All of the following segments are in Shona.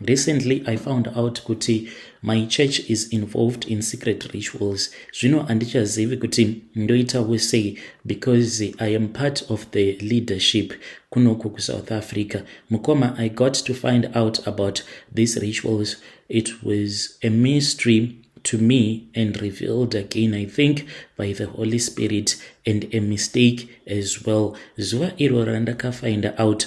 Recently I found out kuti my church is involved in secret rituals. Zvino andichazivi kuti ndoita wese because I am part of the leadership kunoku kuSouth Africa. Mukoma, I got to find out about these rituals. It was a mystery to me and revealed again, I think, by the Holy Spirit and a mistake as well. Zuva iro randakafind out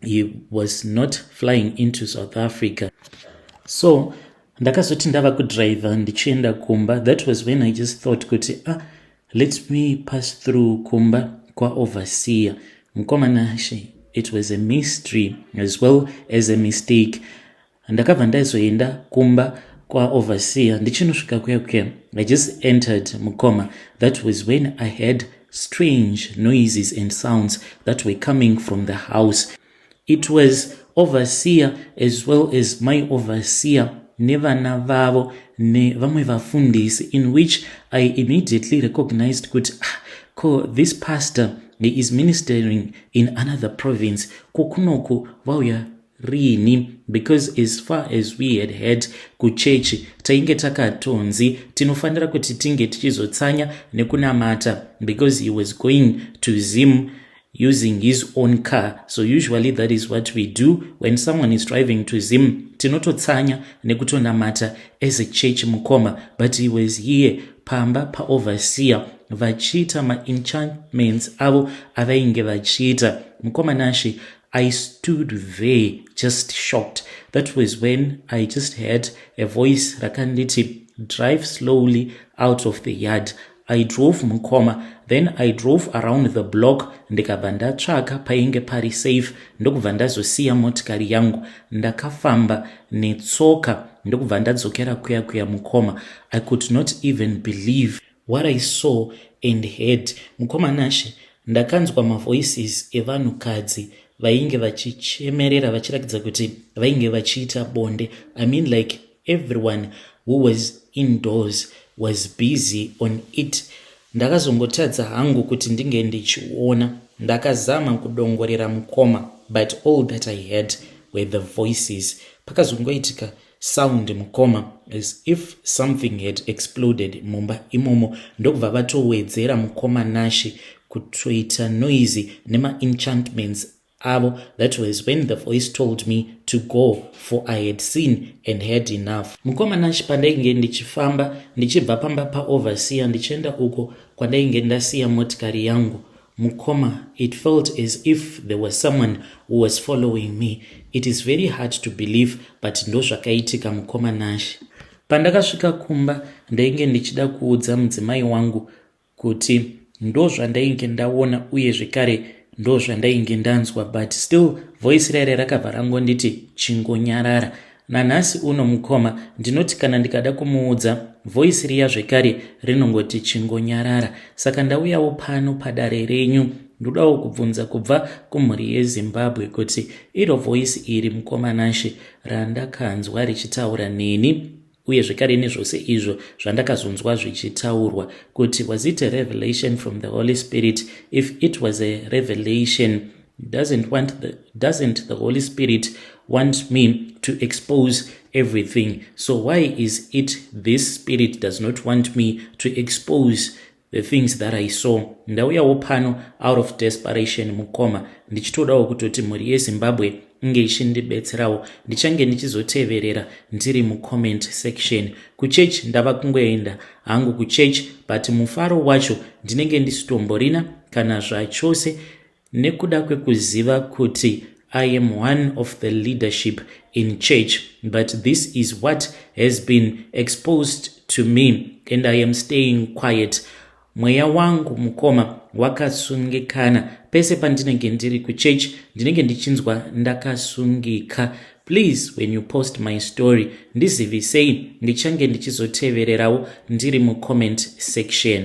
he was not flying into south africa so ndakazoti ndava kudriver ndichienda kumba that was when i just thought kuti ah let me pass through kumba kwaoverseer mkomana she it was a mystery as well as a mistake Ndakabva ndaizoenda kumba kwaoverseer ndichinosvika kuya kuya. I just entered mukoma. That was when I heard strange noises and sounds that were coming from the house. It was overseer as well as my overseer nevana vavo nevamwe vafundisi in which i immediately recognized kuti ah, ko this pastor he is ministering in another province ko kunoku vauya rini because as far as we had heard kuchechi tainge takatonzi tinofanira kuti tinge tichizotsanya nekunamata because he was going to zim using his own car so usually that is what we do when someone is driving to zim tinototsanya nekutonamata as a church mukoma but he was here pamba paoverseer vachiita maenchantments avo avainge vachiita mukoma nashe I stood there just shocked. That was when I just heard a voice rakanditi drive slowly out of the yard. I drove mukoma then I drove around the block ndikabva ndatsvaka painge pari safe ndokubva ndazosiya motikari yangu ndakafamba netsoka ndokubva ndadzokera kuya kuya mukoma I could not even believe What I saw and heard mukoma Nashe ndakanzwa mavoices evanhu kadzi vainge vachichemerera vachirakidza kuti vainge vachiita bonde I mean like everyone who was indoors was busy on it ndakazongotadza hangu kuti ndinge ndichiona ndakazama kudongorera mukoma but all that I heard were the voices pakazongoitika sound mukoma as if something had exploded mumba imomo ndokubva vatowedzera mukoma nashe kutoita noisy nemaenchantments avo that was when the voice told me to go for i had seen and had enough mukoma nashe pandainge ndichifamba ndichibva pamba paoverseer ndichienda uko kwandainge ndasiya motikari yangu Mukoma it felt as if there was someone who was following me. It is very hard to believe but ndozvakaitika mukoma Nash. Pandakasvika kumba ndainge ndichida kuudza mudzimai wangu kuti ndozvandainge ndaona uye zvekare ndozvandainge ndanzwa but still voice raire rakabva rangonditi chingonyarara Nanhasi uno mukoma ndinoti kana ndikada kumuudza voice riya zvekare rinongoti chingonyarara saka ndauyawo pano padare renyu ndodawo kubvunza kubva kumhuri yezimbabwe kuti iro voice iri mukoma nashe randakanzwa richitaura neni uye zvekare nezvose izvo zvandakazonzwa zvichitaurwa kuti was it a revelation from the holy spirit if it was a revelation doesn't want the, doesn't the holy spirit want me to expose everything so why is it this spirit does not want me to expose the things that i saw ndauyawo pano out of desperation mukoma ndichitodawo kutoti mhuri yezimbabwe inge ichindibetserawo ndichange ndichizoteverera ndiri mucomment section kuchechi ndava kungoenda hangu kuchechi but mufaro wacho ndinenge ndisitomborina kana zvachose Nekuda kwekuziva kuti I am one of the leadership in church but this is what has been exposed to me and I am staying quiet. Mweya wangu mukoma wakasungikana pese pandinenge ndiri kuchurch ndinenge ndichinzwa ndakasungika please when you post my story ndizivisei ndichange ndichizotevererawo ndiri mucomment section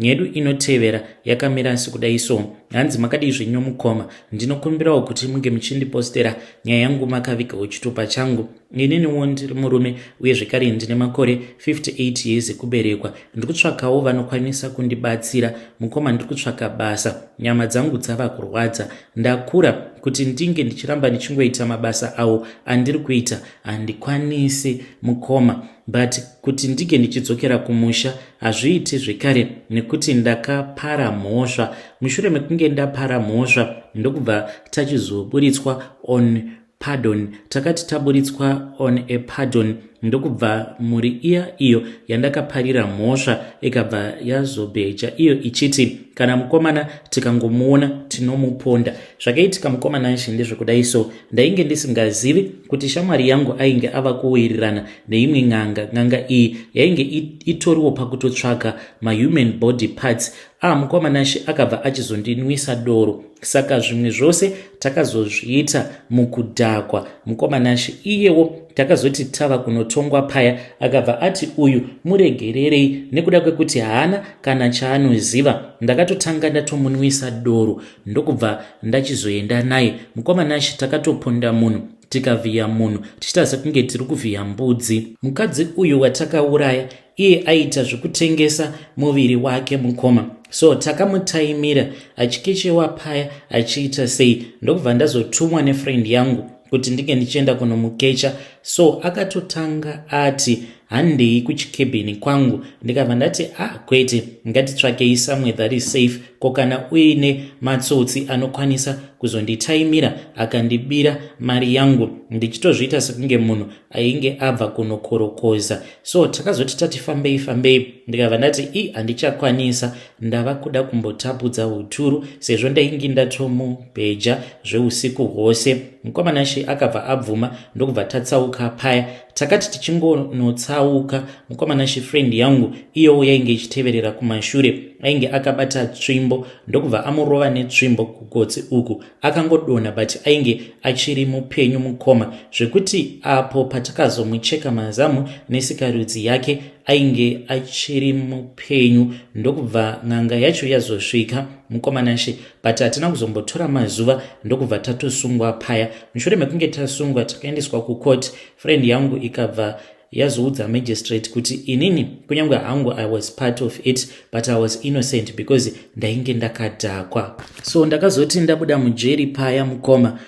nyedu inotevera yakamira asi kudai so hanzi makadii zvenyu mukoma ndinokumbirawo kuti munge muchindipostera nyaya yangu makavigawo chitupa changu ininiwo ndiri murume uye zvekare ndine makore 58 years ekuberekwa ndiri kutsvakawo vanokwanisa kundibatsira mukoma ndiri kutsvaka basa nyama dzangu dzava kurwadza ndakura kuti ndinge ndichiramba ndichingoita mabasa awo andiri kuita handikwanisi mukoma but kuti ndinge ndichidzokera kumusha hazviiti zvekare nekuti ndakapara mhosva mushure mekunge ndapara mhosva ndokubva tachizoburitswa on pardon takati taburitswa on a pardon ndokubva mhuri iya iyo yandakaparira mhosva ikabva yazobheja iyo ichiti kana mukomana tikangomuona tinomuponda zvakaitika mukomana nshi ndezvekudai so Ndainge ndisingazivi kuti shamwari yangu ainge ava kuwirirana neimwe n'anga. N'anga iyi yainge itoriwo pakutotsvaga mahuman body parts. Ah, mukoma Nashe akabva achizondinwisa doro. Saka zvimwe zvose takazozviita mukudhakwa. Mukoma Nashe iyewo takazoti tava kunotongwa paya akabva ati uyu muregererei nekuda kwekuti haana kana chaanoziva. Ndakatotanga ndatomunwisa doro. ndokubva ndachizoenda naye mukoma nashe takatoponda munhu tikavhiya munhu tichiita sekunge tiri kuvhiya mbudzi mukadzi uyu watakauraya iye aita zvekutengesa muviri wake mukoma so takamutaimira achikechewa paya achiita sei ndokubva ndazotumwa nefriend yangu kuti ndinge ndichienda kunomukecha so akatotanga ati handei kuchikebheni kwangu ndikabva ndati a ah, kwete ngatitsvakei somewhere that is safe ko kana uine matsotsi anokwanisa kuzonditaimira akandibira mari yangu ndichitozviita sekunge munhu ainge abva kunokorokoza so takazoti tati fambei fambei ndikabva ndati i handichakwanisa ndava kuda kumbotapudza uturu sezvo ndainge ndatomubheja zveusiku hwose mukomana she akabva abvuma ndokubva tatsauka paya Takati tichingonotsauka mukoma Nashe friend yangu iyowo yainge ichiteverera kumashure ainge akabata tsvimbo ndokubva amurova netsvimbo kugotsi uku akangodonha but ainge achiri mupenyu mukoma zvekuti apo patakazomucheka mazamu nesikarudzi yake ainge achiri mupenyu ndokubva n'anga yacho yazosvika mukoma Nashe but hatina kuzombotora mazuva ndokubva tatosungwa paya mushure mekunge tasungwa takaendeswa kucourt friend yangu ikabva yazoudza magistrate kuti inini kunyange hangu i was part of it but i was innocent because ndainge ndakadhakwa so ndakazoti ndabuda mujeri paya mukoma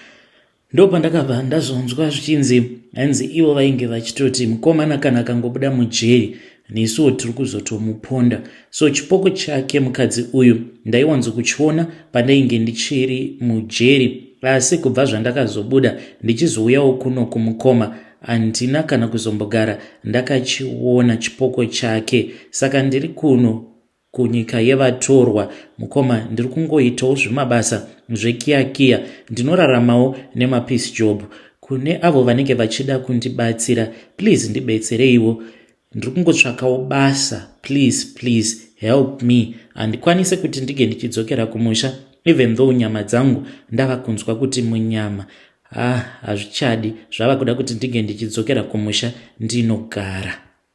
Ndopandakabva ndazonzwa zvichinzi hanzi ivo vainge vachitoti mukomana kana akangobuda mujeri nesuwo tiri kuzotomuponda so chipoko chake mukadzi uyu ndaiwanzo kuchiona pandainge ndichiri mujeri asi kubva zvandakazobuda ndichizouyawo kuno kumukoma handina kana kuzombogara ndakachiona chipoko chake saka ndiri kuno kunyika yevatorwa mukoma ndiri kungoitawo zvimabasa zvekiyakiya ndinoraramawo nemapeace job kune avo vanenge vachida kundibatsira please ndibetsereiwo ndiri kungotsvakawo basa please please help me handikwanise kuti ndige ndichidzokera kumusha even though nyama dzangu ndava kunzwa kuti munyama ah hazvichadi zvava kuda kuti ndige ndichidzokera kumusha ndinogara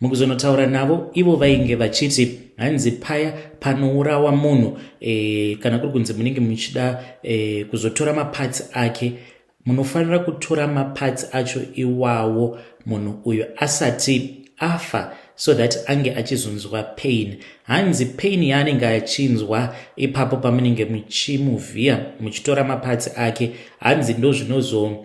Mukuzonotaura navo ivo vainge vachiti hanzi paya panourawa munhu e, kana kuri kunzi munenge muchida e, kuzotora mapatsi ake munofanira kutora mapatsi acho iwawo munhu uyo asati afa so that ange achizonzwa pain hanzi pain yaanenge achinzwa ipapo pamunenge muchimuvhiya muchitora mapatsi ake hanzi ndozvinozo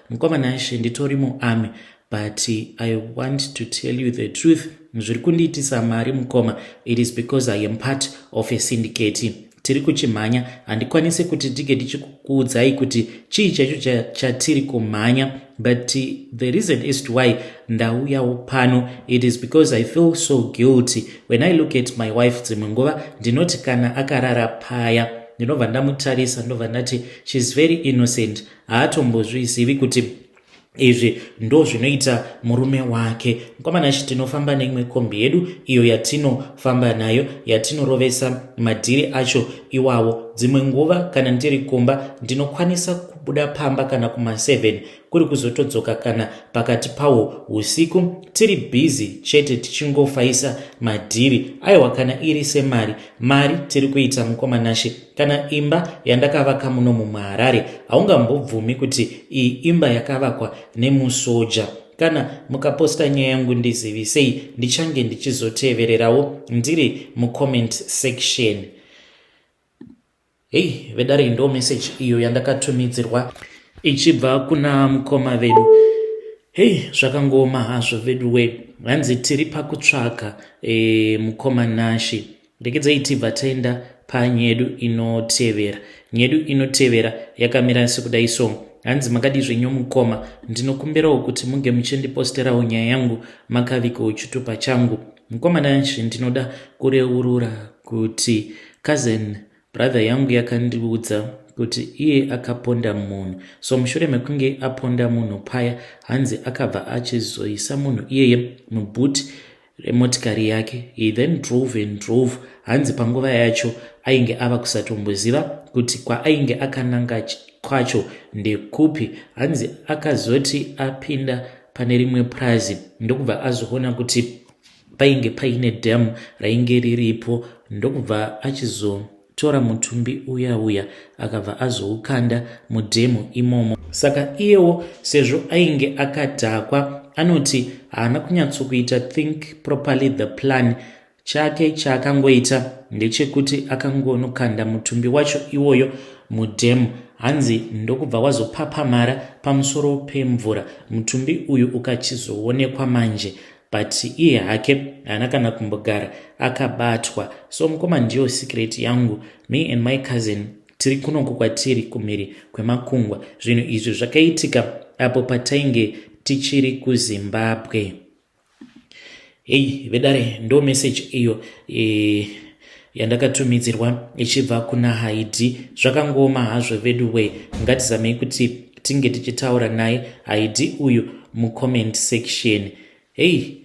Mukoma Nashe nditori muarmy but I want to tell you the truth zviri kundiitisa mari mukoma it is because I am part of a syndicate tiri kuchimhanya handikwanise kuti tige tichikuudzai kuti chii chaicho chatiri kumhanya but the reason is to why ndauyawo pano it is because i feel so guilty when i look at my wife dzimwe nguva ndinoti kana akarara paya ndinobva ndamutarisa ndinobva ndati sheis very innocent haatombozvizivi kuti izvi ndo zvinoita murume wake mukomana shi tinofamba neimwe kombi yedu iyo yatinofamba nayo yatinorovesa madhiri acho iwawo dzimwe nguva kana ndiri kumba ndinokwanisa kubuda pamba kana kuma7 kuri kuzotodzoka kana pakati pawo usiku tiri bhizi chete tichingofaisa madhiri aiwa kana iri semari mari tiri kuita mukomanashe Kana imba yandakavaka muno mumaharare haungambobvumi kuti iyi imba yakavakwa nemusoja kana mukaposta nyaya yangu ndizivisei ndichange ndichizotevererawo ndiri mucomment section hei vedare ndo message iyo yandakatumidzirwa ichibva kuna mukoma vedu hei zvakangooma hazvo veduwe hanzi tiri pakutsvaga e, mukoma nashi Rekedzayi tibva taenda panyedu inotevera. Nyedu inotevera yakamira sekudayi so. Hanzi makadii zvenyu mukoma? Ndinokumbirawo kuti muge muchindiposterawo nyaya yangu makavikewo chitupa changu. Mukoma Nash ndinoda kureurura kuti cousin brother yangu yakandiudza kuti iye akaponda munhu so mushure mekunge aponda munhu paya hanzi akabva achizoisa munhu iyeye mubhuti remotikari yake he then drove and drove hanzi panguva yacho ainge ava kusatomboziva kuti kwaainge akananga kwacho ndekupi hanzi akazoti apinda pane rimwe purazi ndokubva azoona kuti painge paine dam rainge riripo ndokubva achizo Tora mutumbi uya uya akabva azoukanda mudhemu imomo. Saka iyewo sezvo ainge akadhakwa anoti haana kunyatsokuita think properly the plan chake chaakangoita ndechekuti akangonokanda mutumbi wacho iwoyo mudhemu hanzi ndokubva wazopapamara pamusoro pemvura mutumbi uyu ukachizoonekwa manje but iye hake haana kana kumbogara akabatwa so mukoma ndiyo secret yangu me and my cousin tiri kunoku kwatiri kumhiri kwemakungwa zvinhu izvi zvakaitika apo patainge tichiri kuzimbabwe hei vedare ndo message iyo e, yandakatumidzirwa ichibva kuna haidi zvakangooma hazvo veduway ngatizamei kuti tinge tichitaura naye haidi uyu mucomment section hei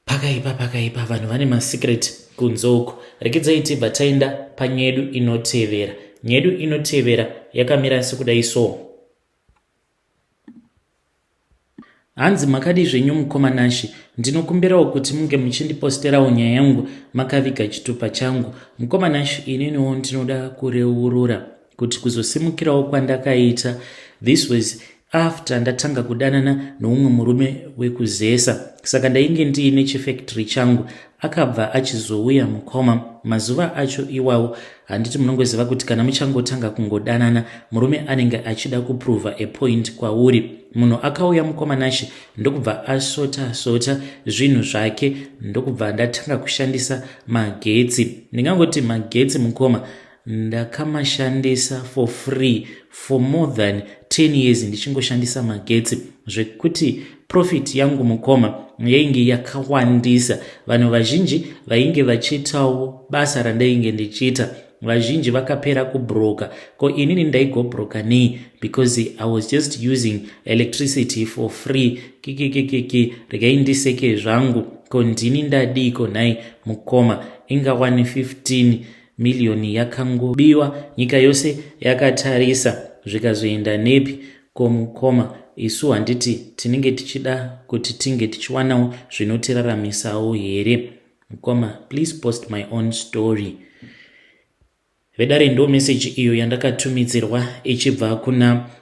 pakaipa pakaipa vanhu vane masecret kunze uku rekedzai tibva taenda panyedu inotevera nyedu inotevera yakamira sekudai so Hanzi makadii zvenyu mukoma Nashy? Ndinokumbirawo kuti munge muchindiposterawo nyaya yangu makaviga chitupa changu. Mukoma Nashy ininiwo ndinoda kureurura kuti kuzosimukirawo kwandakaita this was after ndatanga kudanana noumwe murume wekuzesa saka ndainge ndiine chifactory changu akabva achizouya mukoma mazuva acho iwawo handiti munongoziva kuti kana muchangotanga kungodanana murume anenge achida kuprova apoint kwauri munhu akauya mukoma nashe ndokubva asota sota zvinhu zvake ndokubva ndatanga kushandisa magetsi ndingangoti magetsi mukoma Ndakamashandisa for free for more than 10 years ndichingoshandisa magetsi zvekuti profit yangu mukoma yainge yakawandisa. Vanhu vazhinji vainge vachiitawo basa randainge ndichiita. Vazhinji vakapera kubroka ko inini ndaigobroka nei because I was just using electricity for free. Kikikikiki regai ndiseke zvangu ko ndini ndadiiko nhai mukoma ingawani 15 miriyoni yakangobiwa nyika yose yakatarisa zvikazoenda nepi ko mukoma isu handiti tinenge tichida kuti tinge tichiwanawo zvinotiraramisawo here mukoma please post my own story vedare ndo meseji iyo yandakatumidzirwa ichibva kuna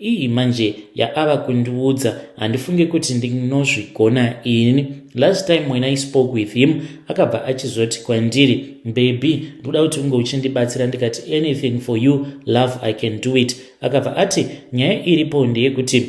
Iyi manje yaava kundiudza handifunge kuti ndinozvigona ini. Last time when I spoke with him akabva achizoti kwandiri baby ndoda kuti unge uchindibatsira ndikati anything for you love I can do it. Akabva ati nyaya iripo ndeyekuti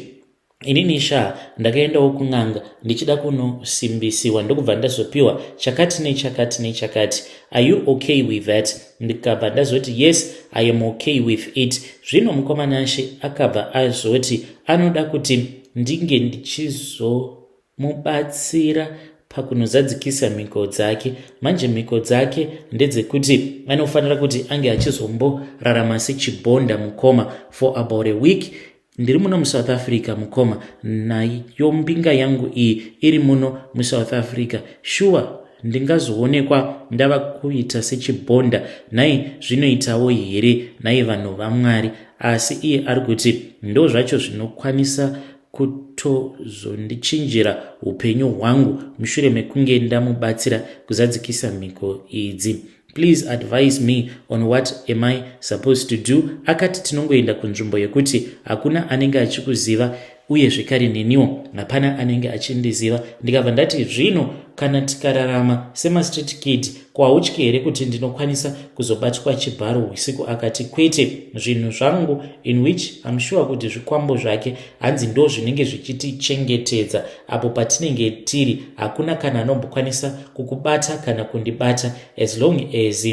inini sha ndakaendawo kun'anga ndichida kunosimbisiwa ndokubva ndazopiwa chakati nechakati nechakati are you okay with that ndikabva ndazoti yes i am okay with it zvino mukoma nashe akabva azoti anoda kuti ndinge ndichizomubatsira pakunozadzikisa mhiko dzake manje mhiko dzake ndedzekuti anofanira kuti ange achizomborarama sechibonda mukoma for about a week Ndiri muno muSouth Africa mukoma, nayo mbinga yangu iyi iri muno muSouth Africa. Shuwa ndingazoonekwa ndava kuita sechibhonda nhai zvinoitawo here nhai vanhu vamwari asi iye ari kuti ndo zvacho zvinokwanisa kutozondichinjira upenyu hwangu mushure mekunge ndamubatsira kuzadzikisa mhiko idzi please advise me on what am i supposed to do akati tinongoenda kunzvimbo yekuti hakuna anenge achikuziva uye zvekare neniwo hapana anenge achindiziva ndikabva ndati zvino kana tikararama semastreet kid kwautye here kuti ndinokwanisa kuzobatwa chibharo usiku akati kwete zvinhu zvangu in which am sure kuti zvikwambo zvake hanzi ndo zvinenge zvichitichengetedza apo patinenge tiri hakuna kana anombokwanisa kukubata kana kundibata as long as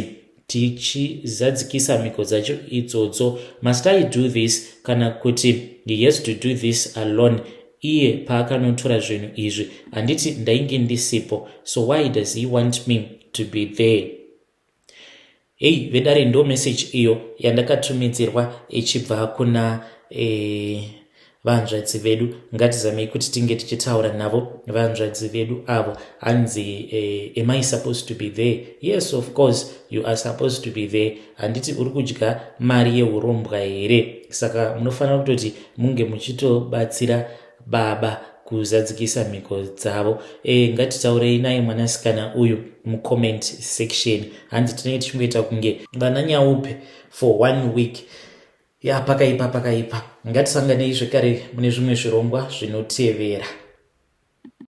tichizadzikisa mhiko dzacho idzodzo must i do this kana kuti he has to do this alone iye paakanotora zvinhu izvi handiti ndainge ndisipo so why does he want me to be there Hey vedare ndo message iyo yandakatumidzirwa ichibva kuna eh, vanzvadzi vedu ngatizamei kuti tinge tichitaura navo vanzvadzi vedu avo hanzi eh, am i supposed to be there yes of course you are supposed to be there handiti uri kudya mari yeurombwa here saka munofanira kutoti munge muchitobatsira baba kuzadzikisa mhiko dzavo e, ngatitaurei naye mwanasikana uyu mucomment section hanzi tinenge tichingoita kunge vana nyaupe for one week ya pakaipa pakaipa ngatisanganei zvekare mune zvimwe zvirongwa zvinotevera